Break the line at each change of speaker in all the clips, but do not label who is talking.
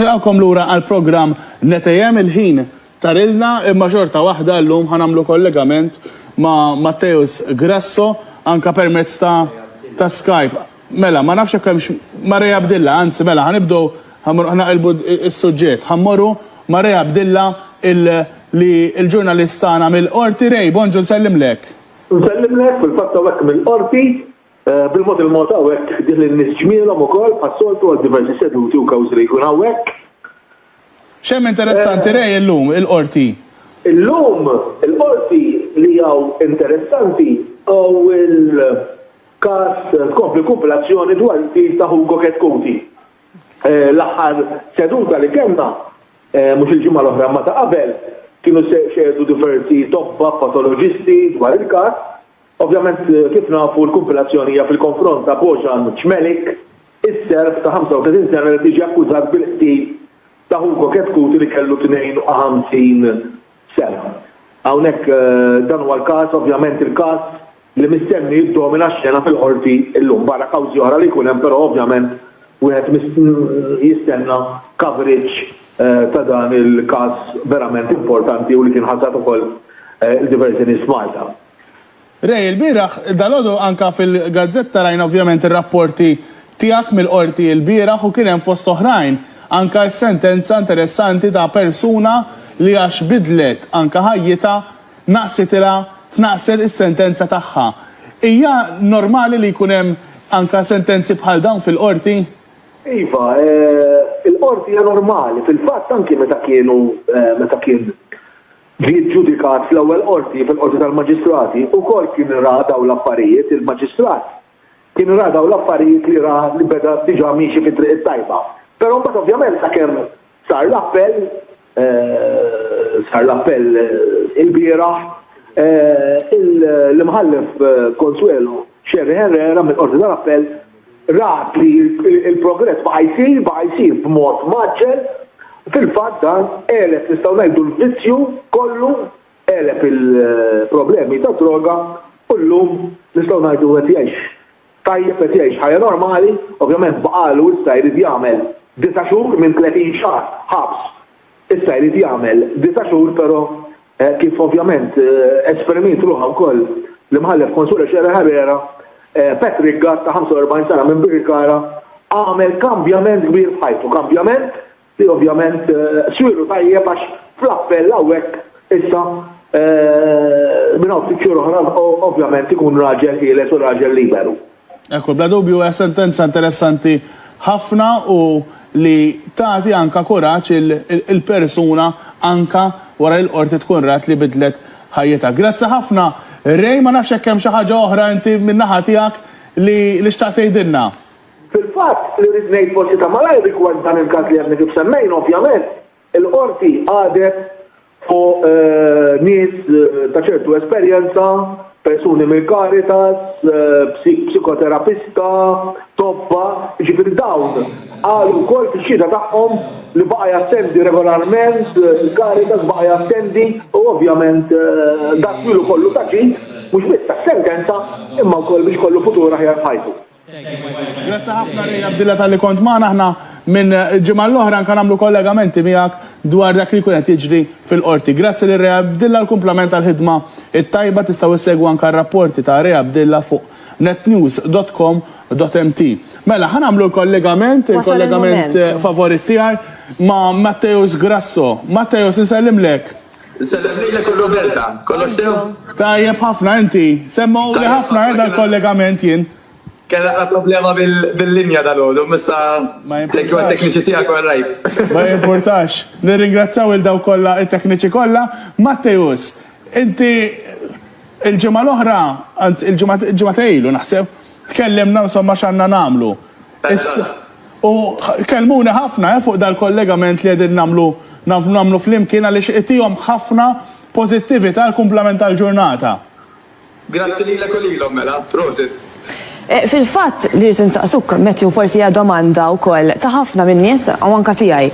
Nilqgħukom lura għall-programm Netejhem, il-ħin tarilna imma xorta waħda llum ħa nagħmlu kollegament ma' Matteus Grasso anke permezz ta' ta' Skype. Mela, ma nafx jekk hemmx ma' Ray Abdilla, anzi mela ħa nibdew ħa mmorru ħa naqilbu s-suġġett. Ħa mmorru ma' Ray Abdilla il li l-ġurnalist tagħna mill-Qorti. Ray, bonġu nsellimlek. Nsellimlek,
fil-fatt hawnhekk mill-Qorti. Bil-mod il-mod hawnhekk ħdih lin-nies ġmielhom ukoll bħas-soltu għal diversi seduti u kawżi li jkun hawnhekk.
X'hemm interessanti Ray illum il-Qorti? Illum
il-Qorti li hawn interessanti hu l-każ tkompli l-kumpilazzjoni dwar il-qtil ta' Hugo Chetcuti. L-aħħar seduta li kellna, mhux il-ġimgħa l-oħra imma ta' qabel, kienu xehdu diversi tobba patoloġisti dwar il-każ, Ovvjament, kif nafu, l-kumpilazzjoni hija fil-konfront ta' Bojan Cmelik, is-Serb ta' 35 sena li qed jiġi akkużat bil-qtil ta' Hugo Chetcuti li kellu 52 sena. Hawnhekk dan huwa l-każ, ovvjament il-każ li mistenni jiddomina x-xena fil-Qorti llum. Barra kawżi oħra li jkun hemm però ovvjament wieħed jistenna coverage ta' dan il-każ verament importanti u li kien ħasad ukoll lil diversi nies f'Malta. Ray,
ilbieraħ, dalgħodu anke fil-gazzetta rajna ovvjament ir-rapporti tiegħek mill-Qorti ilbieraħ u kien hemm fost oħrajn anke s-sentenza interessanti ta' persuna li għax bidlet anke ħajjitha naqsitilha tnaqqset is-sentenza tagħha. Hija normali li jkun hemm anke sentenzi bħal dawn fil-Qorti? Iva,
il-Qorti hija normali. Fil-fatt anke meta kienu meta kien Ġie ġġudikat fl-Ewwel Qorti, fil-Qorti tal-Maġistrati, ukoll kien ra dawn l-affarijiet, il-Maġistrat kien ra dawn l-affarijiet li ra li beda diġà miexi fit-triq it-tajba. Però mbagħad ovvjament sakemm sar l-appell, sar l-appell ilbieraħ, l-Imħallef Consuelo Scerri Herrera mill-Qorti tal-Appell, rat li l-progress baqa' jsir, baqa' jsir b'mod mgħaġġel, fil-fatt dan għeleb nistgħu ngħidu l-vizzju kollu, għeleb il-problemi tad-droga u llum nistgħu ngħidu qed jgħix tajjeb, qed jgħix ħajja normali, ovvjament baqagħlu issa jrid jagħmel disa' xhur minn 30 xahar ħabs, issa jrid jagħmel disa' xhur però Hekk kif ovvjament esperimiet ruħha wkoll l-Imħallef Consuelo Scerra Herrera, Patrick Gatt ta' 45 sena minn Birkirkara għamel kambjament kbir f'ħajtu, kambjament li ovvjament swieru tajjeb għax fl-appell hawnhekk issa minn hawn ftit xhur oħra ovvjament ikun raġel ħieles u raġel liberu. Ekku, bla dubju
hija sentenza interessanti ħafna u li tagħti anka kuraġġ il-persuna anka wara li l-Qorti tkun rat li bidlet ħajjitha. Grazzi ħafna Ray, ma nafx jekk hemm xi ħaġa oħra inti min-naħa tiegħek li li xtaqt tgħidilna. Fil-fatt,
li rrid ngħid forsi ta' malajr rigward dan il-każ li għadni kif semmejna ovvjament, Il-Qorti qagħdet fuq nies ta' ċertu esperjenza, persuni mill-Caritas, psikoterapista, tobba, jiġifieri dawn qalu wkoll fix-xhieda tagħhom li baqa' jattendi regolarment il-Caritas, baqa' jattendi u ovvjament dan ilu kollu ta' ġid mhux biss għas-sentenza imma wkoll biex ikollu futur aħjar f'ħajtu. Grazzi
ħafna Ray Abdilla talli kont magħna. Aħna minn ġimgħa l-oħra anke nagħmlu kollegamenti miegħek dwar dak li jkun qed jiġri fil-Qorti. Grazzi lil Ray Abdilla għal kumplament tal-ħidma t-tajba. Tistgħu issegwu anke r-rapporti ta' Ray Abdilla fuq netnews dot com dot mt. Mela, ħa nagħmlu l-kollegament, il-kollegament favorit tiegħi ma' Matteus Grasso. Matteus, insellimlek. Insellem lilek u
Roberta. Kollox sew? Tajjeb ħafna,
inti? Semmgħuli ħafna eh dal-kollegament jien. Kellna
problema bil-linja dalgħodu, imma issa thank you għat-tekniċi tiegħek u għar-raid. Ma jimpurtax.
Nirringrazzjaw lil dawk kollha, it-tekniċi kollha. Matteus, inti l-ġimgħa l-oħra, anzi l-ġimgħa, ġimgħatej ilu naħseb, tkellimna insomma x'għandna nagħmlu. Issa, u kellmuni ħafna fuq dal-kollegament li qegħdin nagħmlu nagħmlu flimkien għaliex itihom ħafna pożittività għall-kumplament tal-ġurnata. Grazzi
lilek u lilhom mela. Prosit. Fil-fatt,
li rrid insaqsuk, Matthew, forsi hija domanda wkoll ta' ħafna min-nies u anke tiegħi.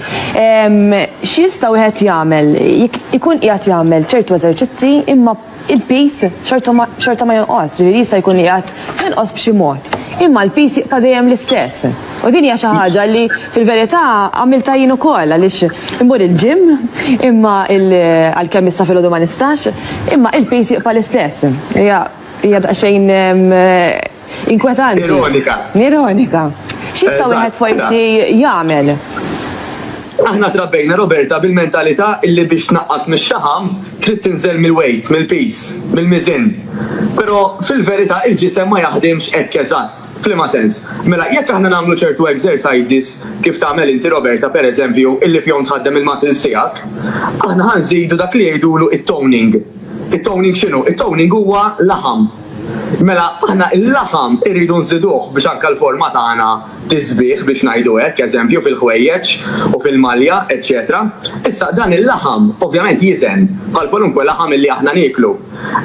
X'jista' wieħed jagħmel jekk ikun qiegħed jagħmel ċertu eżerċizzi imma il-piż xorta ma jonqosx, ġifieri jista' jkun li qiegħed jonqos b'xi mod, imma l-piż jibqa' dejjem l-istess. U din hija xi ħaġa li fil-verità għamiltha jien ukoll għaliex immur il-gym imma għalkemm issa filgħodu ma nistax, imma il-piż jibqa' l-istess. Hija hija daqsxejn Inkwetanti. Ironika. Ironika. Xista wieħed forsi jagħmel?
Aħna trabbejna Roberta bil-mentalità illi biex tnaqqas mix-xaħam trid tinżel mill-weight, mill-piż, mill-miżien. Però fil-verità il-ġisem ma jaħdimx hekk eżatt. F'liema sens? Mela jekk aħna nagħmlu ċertu exercises kif tagħmel inti Roberta pereżempju illi fihom tħaddem il-muscles tiegħek, aħna ħa nżidu dak li jgħidulu t-toning. It-toning x'inhu? It-toning huwa laħam. Mela aħna il-laħam irridu nżiduh biex anke l-forma tagħna tiżbieh biex ngħidu hekk, eżempju fil-ħwejjeġ u fil-malja, eċċetera Issa dan il-laħam ovvjament jiżen bħal kwalunkwe laħam illi aħna nieklu.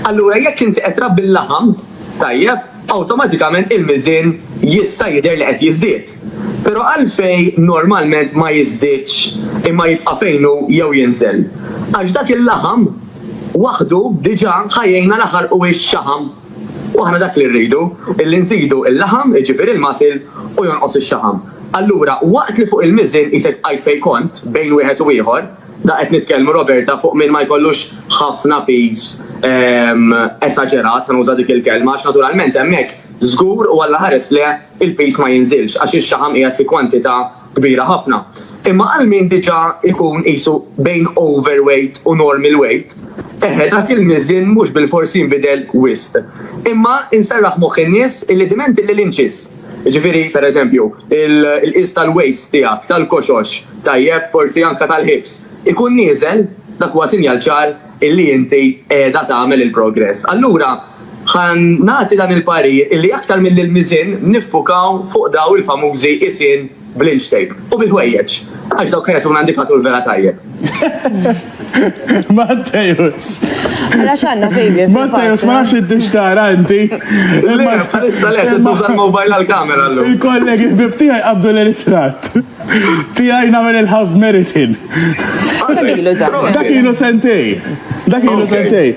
Allura jekk inti qed trabbi l-laħam, tajjeb, awtomatikament il-miżien jista' jidher li qed jiżdied. Però għalfejn normalment ma jiżdiedx imma jibqa' fejn hu jew jinżel? Għax dak il-laħam Waħdu diġà ħajjejna laħaq u hix xaħam. U aħna dak li rridu, illi nżidu l-laħam, jiġifieri l-masil, u jonqos ix-xaħam. Allura, waqt li fuq il-miżien qisek bqajt fejn kont, bejn wieħed u ieħor, da qed nitkellmu, Roberta, fuq min ma jkollux ħafna piż esaġerat, ħa nuża dik il-kelma, għax naturalment hemmhekk żgur u Alla ħares le, il-piż ma jinżilx, għax ix-xaħam qiegħed fi kwantità kbira ħafna. Imma għal min diġà jkun qisu bejn overweight u normal weight, eħe dak il-miżien mhux bilfors jinbidel wisq. Imma inserraħ moħħ in-nies illi diment illi l-inċis, jiġifieri pereżempju l-qies tal-waist tiegħek, tal-koxox, tajjeb, forsi anke tal-hips, ikun nieżel, dak huwa sinjal ċar illi inti qiegħda tagħmel il-progress. Allura, ħa nagħti dan il-parir illi aktar milli l-miżien niffukaw fuq dawn il-famużi qisien bl-inch tape u bil-ħwejjeġ għax dawk ħa jagħtuna indikatur vera tajjeb.
Mattejus. Ara
x'għandna fejn. Mattejus ma nafx id
tara inti. Imma issa
le, se tuża l-mobile għall-kamera llum. Il-kollegi ħbib tiegħi
qabdu l-ritratt. Tijaj namel il-half meritin. Dak ilu sentej. Dak ilu sentej.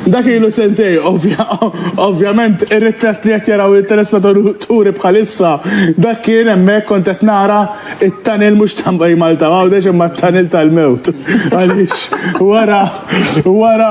Dak ilu sentej, ovvjament, ir-riklet li qed jaraw il-telespettaturi bħalissa, dak kien hemmhekk kont qed nara it-tanil mhux tambaj Malta għawdex imma t-tanil tal-mewt. Għaliex wara wara